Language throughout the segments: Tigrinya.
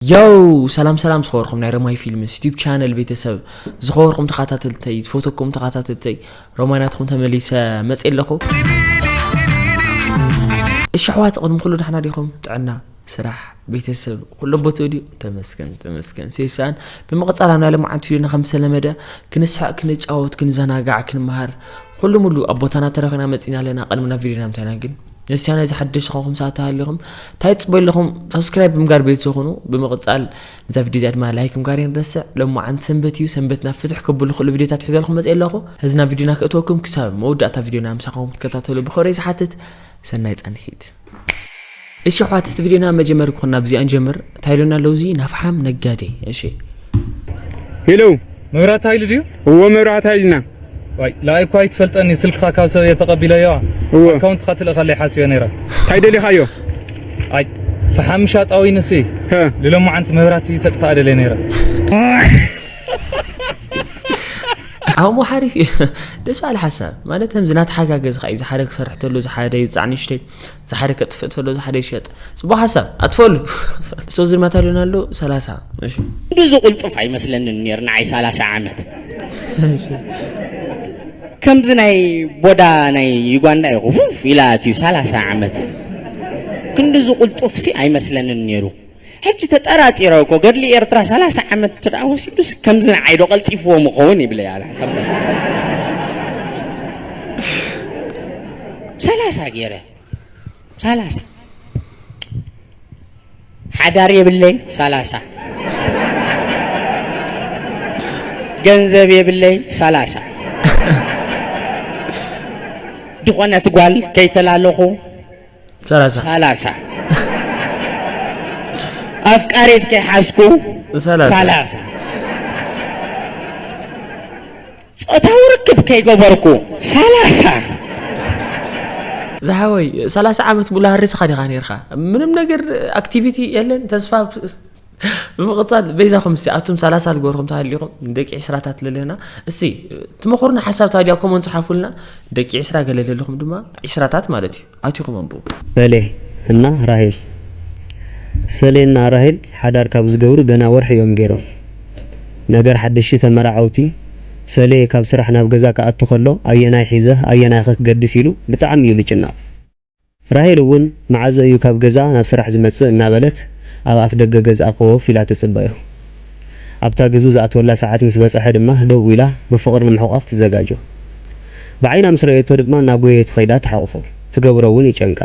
ዮው ሰላም ሰላም ዝኸበርኩም ናይ ረማይ ፊልምስ ዩቲብ ቻነል ቤተሰብ ዝኸበርኩም ተኸታተልተይ ዝፈተኩም ተኸታተልተይ ረማይ ናትኩም ተመሊሰ መፅ ኣለኹ እሺ ኣሕዋት ቅድሚ ኩሉ ዳሕና ዲኹም ጥዕና ስራሕ ቤተሰብ ኩሎ ቦትኡ ድዩ ተመስገን ተመስገን ሴሳን ብምቕፃል ኣብ ናይ ልምዓት ፊልምና ከም ዝተለመደ ክንስሐቅ ክንጫወት ክንዘናጋዕ ክንመሃር ኩሉ ሙሉ ኣብ ቦታና ተረኺና መፂና ኣለና ቅድሚ ናብ ቪድዮና ምታይና ግን ነስያ ናይዚ ሓደሽ ዝኾንኩም ሰባት ተሃሊኹም እንታይ ትፅበዩ ኣለኹም ሳብስክራይብ ብምጋር ቤት ዝኾኑ ብምቕፃል ነዛ ቪድዮ እዚኣ ድማ ላይክ ምጋር የንረስዕ ሎም መዓንቲ ሰንበት እዩ ሰንበትና ፍትሕ ከብሉ ክእሉ ቪድዮታት ሒዘልኩም መፅእ ኣለኹ እዚ ናብ ቪድዮና ክእተወኩም ክሳብ መወዳእታ ቪድዮና ምሳኹም ክትከታተሉ ብኸብሪ ዝሓትት ሰናይ ፃንሒት እሺ ኣሕዋት እስቲ ቪድዮና መጀመሪ ክኹን ናብዚኣ ንጀምር እንታይ ኢሉና ኣሎ እዚ ናፍሓም ነጋዴ? እሺ ሄሎ፣ መብራት ኃይል ድዩ? እዎ መብራት ኃይልና። ዋይ ለኣይ እኳ ኣይትፈልጠኒ ስልክኻ ካብ ሰብ እየ ተቐቢለዮ እዎ ኣካውንትኻ ትልእኸለይ ሓሲበ ነይረ። እንታይ ደሊኻዮ? ኣይ ፈሓም ሻጣዊ ንሱ ልሎማዓንቲ መብራህቲ ተጥፋኣ ደልየ ነይረ። ዓሞ ሓሪፍ እዩ ደስ በሃሊ ሓሳብ ማለት ከምዚ ናተሓጋገዝኻ እዩ ዝሓደ ክሰርሕ ተሎ ዝሓደ ይውፃዕ ንእሽተይ ዝሓደ ከጥፍእ ተሎ ዝሓደ ይሸጥ ጽቡቅ ሓሳብ ኣጥፈሉ እሶ ዝርማታ ሎና ኣሎ ሰላሳ ክንዲ ዝቁልጡፍ ኣይመስለንን ነይሩ ንዓይ ሰላሳ ዓመት ከምዚ ናይ ቦዳ ናይ ዩጋንዳ ይኹ ፉፍ ኢላ ኣትዩ ሰላሳ ዓመት ክንዲ ዝቁልጡፍሲ ኣይመስለንን ነይሩ ሕጂ ተጠራጢረ እኮ ገድሊ ኤርትራ ሰላሳ ዓመት እንተ ወሲዱስ ከምዚ ንዓይ ዶ ቀልጢፍዎ ምኸውን ይብለይ ኣነ ሓሳብ ሰላሳ ገይረ ሰላሳ ሓዳር የብለይ ሰላሳ ገንዘብ የብለይ ሰላሳ ድኾነት ጓል ከይተላለኹ ሰላሳ ሰላሳ ኣፍቃሪት ከይሓዝኩ ሰላሳ። ሰላሳ ጾታዊ ርክብ ከይገበርኩ ሰላሳ ዝሓወይ ሰላሳ ዓመት ሙሉ ሃሪስኻ ዲኻ ኔርካ ምንም ነገር ኣክቲቪቲ የለን ተስፋ ብምቕፃል በይዛኹም እስቲ ኣቱም ሰላሳ ልገርኹም ተሃሊኹም ደቂ ዕስራታት ለለና እስቲ ትመኽሩና ሓሳብ ታዲያ ከምኡ ንፅሓፉልና ደቂ ዕስራ ገለ ለለኹም ድማ ዕስራታት ማለት እዩ ኣትኹም ኣንብቡ ሰሌ እና ራሄል ሰሌ እና ራሄል ሓዳር ካብ ዝገብሩ ገና ወርሒ እዮም ገይሮም ነገር ሓደሽቲ ተመራዓውቲ ሰሌ ካብ ስራሕ ናብ ገዛ ክኣቱ ከሎ ኣየናይ ሒዘ ኣየናይኸ ክገድፍ ኢሉ ብጣዕሚ እዩ ልጭነቕ ራሄል እውን መዓዘ እዩ ካብ ገዛ ናብ ስራሕ ዝመፅእ እናበለት ኣብ ኣፍ ደገ ገዝኣ ኮፍ ኢላ ትፅበዮ። ኣብታ ግዙ ዝኣትወላ ሰዓት ምስ በፀሐ ድማ ደው ኢላ ብፍቕሪ ንምሕቋፍ ትዘጋጆ። ብዓይና ምስ ረኣየቶ ድማ እናጎየየት ኸይዳ ትሓቑፎ። ትገብሮ እውን ይጨንቃ።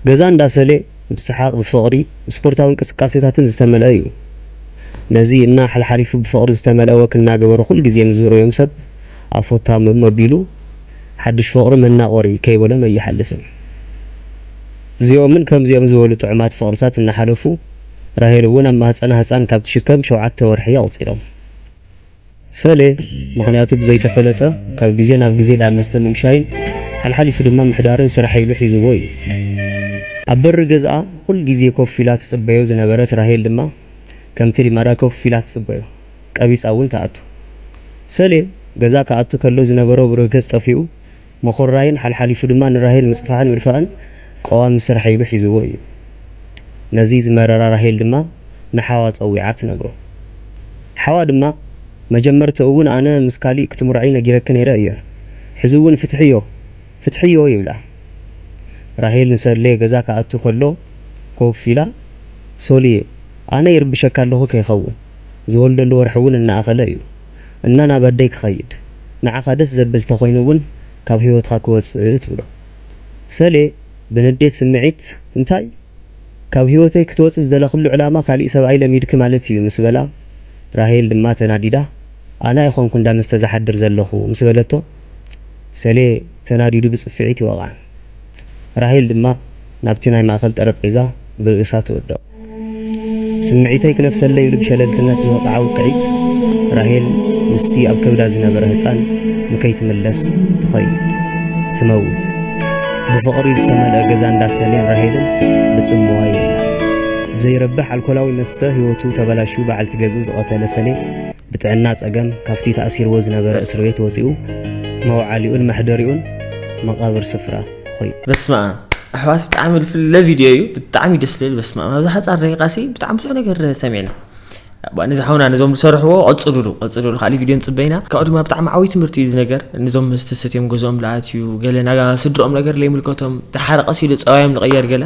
ገዛ እንዳ ሰሌ ብሰሓቕ፣ ብፍቕሪ፣ ብስፖርታዊ እንቅስቃሴታትን ዝተመልአ እዩ። ነዚ እና ሓልሓሊፉ ብፍቕሪ ዝተመልአ ወክ እናገበሩ ኩልግዜ ምስ ዝርእዮም ሰብ ኣፎታም መቢሉ፣ ሓዱሽ ፍቕሪ መናቖሪ ከይበሎም ኣይሓልፍን። እዚኦምን ከምዚኦም ዝበሉ ጥዑማት ፍቕርታት እናሓለፉ ራሄል እውን ኣብ ማህፀና ህፃን ካብ ትሽከም ሸውዓተ ወርሒ ኣቑፂሮም። ሰሌ ምኽንያቱ ብዘይተፈለጠ ካብ ግዜ ናብ ግዜ ዳኣ መስተ ምምሻይን ሓልሓሊፉ ድማ ምሕዳርን ስራሕ ኢሉ ሒዝዎ እዩ። ኣብ በሪ ገዝኣ ኩል ግዜ ኮፍ ኢላ ትፅበዮ ዝነበረት ራሄል ድማ ከምቲ ልማዳ ኮፍ ኢላ ትፅበዮ። ቀቢጻ እውን ትኣቱ። ሰሌ ገዛ ክኣቱ ከሎ ዝነበሮ ብሩህ ገጽ ጠፊኡ፣ ምኹርራይን ሓልሓሊፉ ድማ ንራሄል ምጽፋሕን ምድፋእን ቀዋሚ ስራሕ ኢሉ ሒዝዎ እዩ። ነዚ ዝመረራ ራሄል ድማ ንሓዋ ጸዊዓ ትነግሮ። ሓዋ ድማ፣ መጀመርትኡ እውን ኣነ ምስ ካሊእ ክትምርዖይ ነጊረኪ ነይረ እየ። ሕዚ እውን ፍትሕዮ! ፍትሕዮ! ይብላ። ራሄል ንሰሌ ገዛ ክኣቱ ከሎ ኮፍ ኢላ፣ ሶልየ ኣነ ይርብሸካ ኣለኹ ከይኸውን! ዝወልደሉ ወርሒ ውን እናኣኸለ እዩ እና ናብ ኣደይ ክኸይድ ንዓኻ ደስ ዘብል ተኾይኑ ውን ካብ ሂወትኻ ክወጽእ ትብሎ ሰሌ ብንዴት ስምዒት እንታይ ካብ ሂወተይ ክትወጺ ዝደለኽሉ ዕላማ ካሊእ ሰብኣይ ለሚድኪ ማለት እዩ ምስ በላ ራሄል ድማ ተናዲዳ ኣነ ኣይኾንኩ እንዳ መስተ ዝሓድር ዘለኹ ምስ በለቶ ሰሌ ተናዲዱ ብጽፍዒት ይወቕዓ። ራሄል ድማ ናብቲ ናይ ማእከል ጠረጴዛ ብርእሳ ትወድቕ። ስምዒተይ ክነፍሰለይ ኢሉ ብሸለልትነት ዝወቕዓ ውቅዒት ራሄል ምስቲ ኣብ ከብዳ ዝነበረ ህጻን ንከይትምለስ ትኸይድ። ትመውት። ብፍቕሪ ዝተመልአ ገዛ እንዳ ሰሌን ራሄልን ብጽምዋ ይብላዕ። ብዘይረብሕ ኣልኮላዊ መስተ ህይወቱ ተበላሽዩ በዓልቲ ገዝኡ ዝቐተለ ሰሌ ብጥዕና ጸገም ካብቲ ተኣሲርዎ ዝነበረ እስርቤት ወጺኡ መውዓሊኡን መሕደሪኡን መቓብር ስፍራ ኾይኑ። በስመኣም ኣሕዋት ብጣዕሚ ልፍለ ቪድዮ እዩ ብጣዕሚ ደስ ልብል በስመኣም ኣብዚ ሓፃር ደቂቃ ሲ ብጣዕሚ ብዙሕ ነገር ሰሚዕና ነዚ ሓውና ነዞም ዝሰርሕዎ ቀፅሉሉ ቀፅሉሉ ካልእ ቪድዮ ንፅበ ኢና ካብኡ ድማ ብጣዕሚ ዓብይ ትምህርቲ እዩ እዚ ነገር ነዞም መስተሰት እዮም ገዝኦም ልኣትዩ ገለ ናጋ ስድርኦም ነገር ለይምልከቶም ተሓረቐስ ኢሉ ፀባዮም ልቐየር ገለ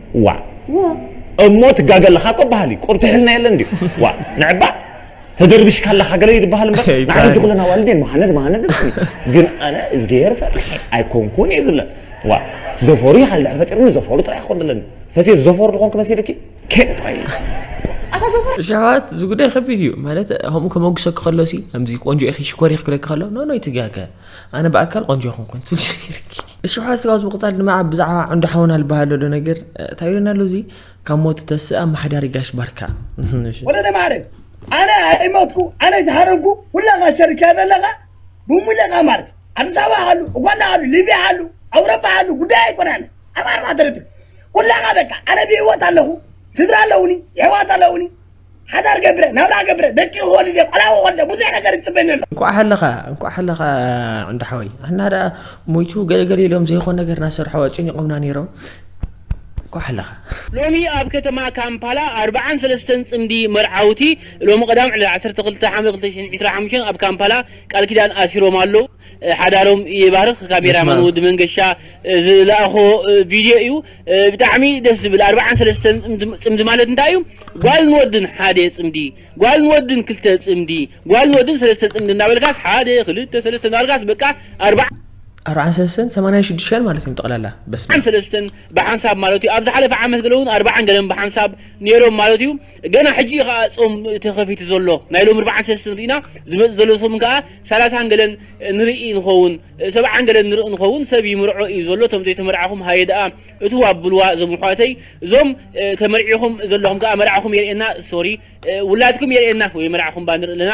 ዋእ እሞ ትጋገ ኣለኻ እኮ በሃሊ ቁርቲሕልና የለን ድዩ ዋእ ንዕባእ ተደርቢሽካ ኣለኻ ገለ እዩ ድበሃል እምበር ንዓይ ሕጂ ኩለን ኣዋልድ እየን መሃነድ መሃነድ ድበሃሊ ግን ኣነ እዝግሄር ፈሪሐ ኣይኮንኩን እየ ዝብለን ዋእ ዘፈሩ ይሃል ድሕሪ ፈጢርኒ ዘፈሩ ጥራይ ክኾን ደለኒ ፈትየ ዘፈሩ ዝኾንክ መሲልኪ ኬን ጥራይ ሸዋት እዚ ጉዳይ ከቢድ እዩ ማለት ከምኡ ከመጉሰኪ ከሎ ሲ ከምዚ ቆንጆ ኢኺ ሽኮር ኢኺ ክብለኪ ከሎ ኖ ኖ ይትጋገ ኣነ ብኣካል ቆንጆ ኣይኮንኩን ስልሽርኪ እሽሖ ስጋውስ ብቕጻል ድማ ኣብ ብዛዕባ ዕንዶ ሓውና ልበሃል ዘሎ ነገር እንታይ ይብለና ኣሎ እዚ ካብ ሞት ዝተስእ ኣመሓዳሪ ጋሽ ባርካ ወለደ ማዕረ ኣነ ኣይሞትኩ ኣነ ዝሃረምኩ ኩላኻ ሸርክያ ዘለኻ ብሙለኻ ማለት ኣዲስ ኣበባ ኣሉ ኡጋንዳ ኣሉ ሊብያ ኣሉ ኣውሮፓ ኣሉ ጉዳይ ኣይኮናነ ኣብ ኣርባዕተ ርትር ኩላኻ በቃ ኣነ ብህይወት ኣለኹ ስድራ ኣለውኒ የሕዋት ኣለውኒ ሓዳር ገብረ ናብራ ገብረ ደቂ ወልደ ቆልዓ ወልደ ብዙሕ ነገር ይፅበኒ ኣሎ እንኳዕ ሃለኻ እንኳዕ ሃለኻ ዕንዱ ሓወይ ኣና ደኣ ሞይቱ ገለገለ ኢሎም ዘይኮን ነገር ናሰርሖ ኣጨኒቖምና ነይሮም እንኳዕ ሃለኻ ሎሚ ኣብ ከተማ ካምፓላ ኣርብዓን ሰለስተን ፅምዲ መርዓውቲ ሎሚ ቀዳም ዕለት ዓሰርተ ክልተ ሓምለ ክልተ ሽሕን ዒስራን ሓሙሽተን ኣብ ካምፓላ ቃል ኪዳን ኣሲሮም ኣለው። ሓዳሮም ይባርኽ ካሜራ ማን ወዲ መንገሻ ዝላኣኾ ቪድዮ እዩ ብጣዕሚ ደስ ዝብል ኣርብዓን ሰለስተን ጽምዲ ማለት እንታይ እዩ ጓል ንወድን ሓደ ጽምዲ ጓል ንወድን ክልተ ጽምዲ ጓል ንወድን ሰለስተ ጽምዲ እናበልካስ ሓደ ክልተ ሰለስተ እናበልካስ በቃ ኣርባ ኣርብዓን ሰለስተን ሰማንያን ሽዱሽተን ማለት እዮም ጠቕላላ በስመ ኣርብዓን ሰለስተን ብሓንሳብ ማለት እዩ ኣብ ዝሓለፈ ዓመት ገለ እውን ኣርብዓን ገለን ብሓንሳብ ነይሮም ማለት እዩ ገና ሕጂ እዩ ከኣ ጾም ተኸፊቱ ዘሎ ናይ ሎሚ ርብዓን ሰልስትን ርኢና ዝመጽእ ዘሎ ሰሙን ከኣ ሰላሳን ገለን ንርኢ ንኸውን ሰብዓን ገለን ንርኢ ንኸውን ሰብ ይምርዖ እዩ ዘሎ እቶም ዘይተመርዓኹም ሃየ ደኣ እትው ኣብልዋ እዞም ኣሕዋተይ እዞም ተመርዒኹም ዘለኹም ከኣ መርዓኹም የርእየና ሶሪ ውላድኩም የርእየና ወይ መርዓኹም እባ ንርኢ ኣለና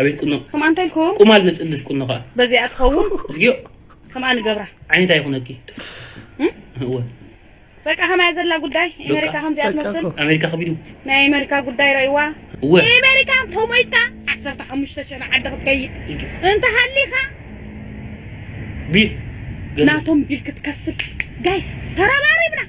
ኣቤት ቁኖ ከም ኣንታይ ኢልኩም ቁማል ዘጽድፍ ቁኖ ከኣ በዚኣ ትኸውን እዝግዮ ከምኣ ንገብራ ዓይነታ ይኹነኪ እወ በቃ ከማያ ዘላ ጉዳይ ኣሜሪካ ከምዚኣ ትመስል ኣሜሪካ ከቢዱ ናይ ኣሜሪካ ጉዳይ ረእይዋ እወ ኣሜሪካ ተሞይታ ዓሰርተ ሓሙሽተ ሽሕ ንዓዲ ክትከይድ እንተሃሊኻ ቢል ናቶም ቢል ክትከፍል ጋይስ ተረባሪብና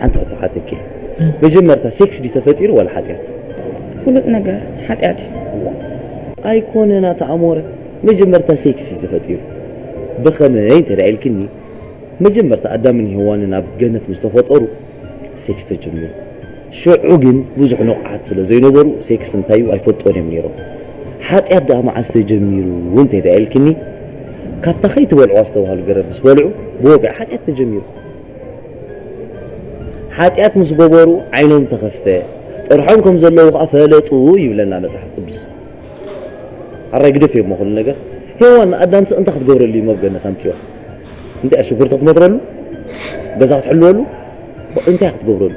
ሓንቲ ክተሓተኪ መጀመርታ ሴክስ ድዩ ተፈጢሩ ዋላ ሓጢያት? ፍሉጥ ነገር ሓጢያት እዩ። ኣይኮነን ኣቲ ኣሞረ መጀመርታ ሴክስ እዩ ተፈጢሩ ብከመይ እንተ ኢልክኒ መጀመርታ ኣዳምን ሄዋንን ኣብ ገነት ምስ ተፈጠሩ ሴክስ ተጀሚሩ ሽዑ ግን ብዙሕ ንቁሓት ስለ ዘይነበሩ ሴክስ እንታይ እዩ ኣይፈልጥዎን እዮም ኔሮም ሓጢያት ደኣ መዓስ ተጀሚሩ እንተ ኢልክኒ ካብታ ከይትበልዑ ኣስተባህሉ ገረብ ምስ በልዑ ብወግዒ ሓጢያት ተጀሚሩ ሓጢኣት ምስ ገበሩ ዓይኖም ተኸፍተ፣ ጥርሖም ከም ዘለዉ ከኣ ፈለጡ ይብለና መጽሓፍ ቅዱስ። ኣራይ ግደፍ እዩ'ሞ ኩሉ ነገር። ሄዋን ንኣዳምሲ እንታይ ክትገብረሉ እዩ ኣብ ገነት ኣምጺዋ? እንታይ እያ ሽጉርቲ ክትመትረሉ? ገዛ ክትሕልወሉ? እንታይ እያ ክትገብረሉ?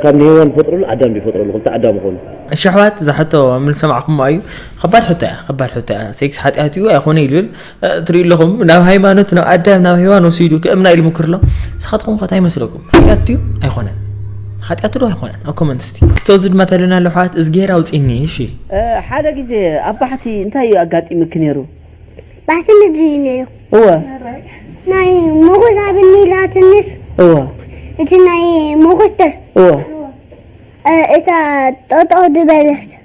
ካብ ንሄዋን ዝፈጥረሉ ኣዳም ድዩ ዝፈጥረሉ? ክልተ ኣዳም ይኾኑ። እሺ ኣሕዋት እዛ ሕቶ ምልሰማዕኩሞ ኣዩ ኸባድ ሕቶ እያ ኸባድ ሕቶ እያ ሴክስ ሓጢኣት እዩ ኣይኾነ ይብል ትሪኡ ኣለኹም ናብ ሃይማኖት ናብ ኣዳም ናብ ሄዋን ወሲዱ ክእምና ኢሉ ምክር ኣሎ ንስኻትኩም ከ እንታይ ይመስለኩም ሓጢኣት ድዩ ኣይኮነን ሓጢኣት ዶ ኣይኮነን ኣብ ኮመንት እስቲ ክስተዚ ድማ ተለና ኣሎ ሓት እዝጌር ኣውፅኒ እሺ ሓደ ግዜ ኣብ ባሕቲ እንታይ እዩ ኣጋጢሙኪ ነይሩ ባሕቲ ምድሪ እዩ ነይሩ እወ ናይ ሞጎስ ኣብ ኒላትንስ እወ እቲ ናይ ሞጎስ እወ እታ ጠጠው ድበለት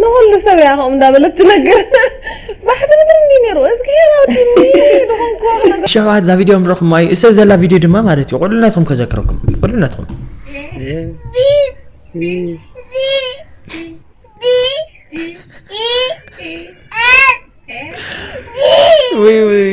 ንኹሉ ሰብ እያ ከምኡ እንዳበለት ትነግር ባሕቲ ምድሪ እንዲ ነይሩ እዝግሄር ኣውዲኒ ንኾንኩ ሸውዓት እዛ ቪድዮ ምረኹም እዩ እሰብ ዘላ ቪድዮ ድማ ማለት እዩ ቁልነትኩም ከዘክረኩም ቁልነትኩም ወይ ወይ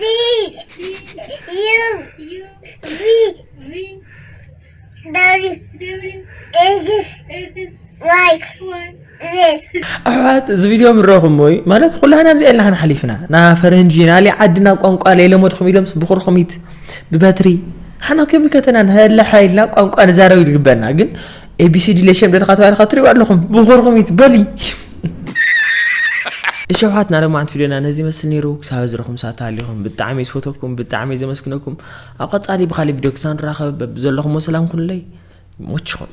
D D U U V V W W X X Y Y Z ኣሕዋት እዚ ቪድዮ ምረኹምዎ እዩ ማለት ኩላና ኣብዚ ኤልና ክንሓሊፍና ና ፈረንጂ ናሊ ዓድና ቋንቋ ለይለመድኹም ኢሎምስ ብኹርኹሚት ብበትሪ ሓና ከይምልከተና ንህለሓ ኢልና ቋንቋ ንዛረብ ይግበና ግን ኤቢሲዲ ለሸም ደድኻ ተባሂልካ ትሪእዋ ኣለኹም ብኹርኹሚት በሊ እሺ ኣሕዋትና ለማዓንቲ ቪድዮና ነዚ ይመስል ነይሩ ክሳብ እዚ ረኹም ሰዓት ሃሊኹም ብጣዕሚ እየ ዝፈተኩም ብጣዕሚ እየ ዘመስግነኩም ኣብ ቀፃሊ ብካሊእ ቪድዮ ክሳብ ንራኸብ በብዘለኹሞ ሰላም ኩኑለይ ይሞችኹም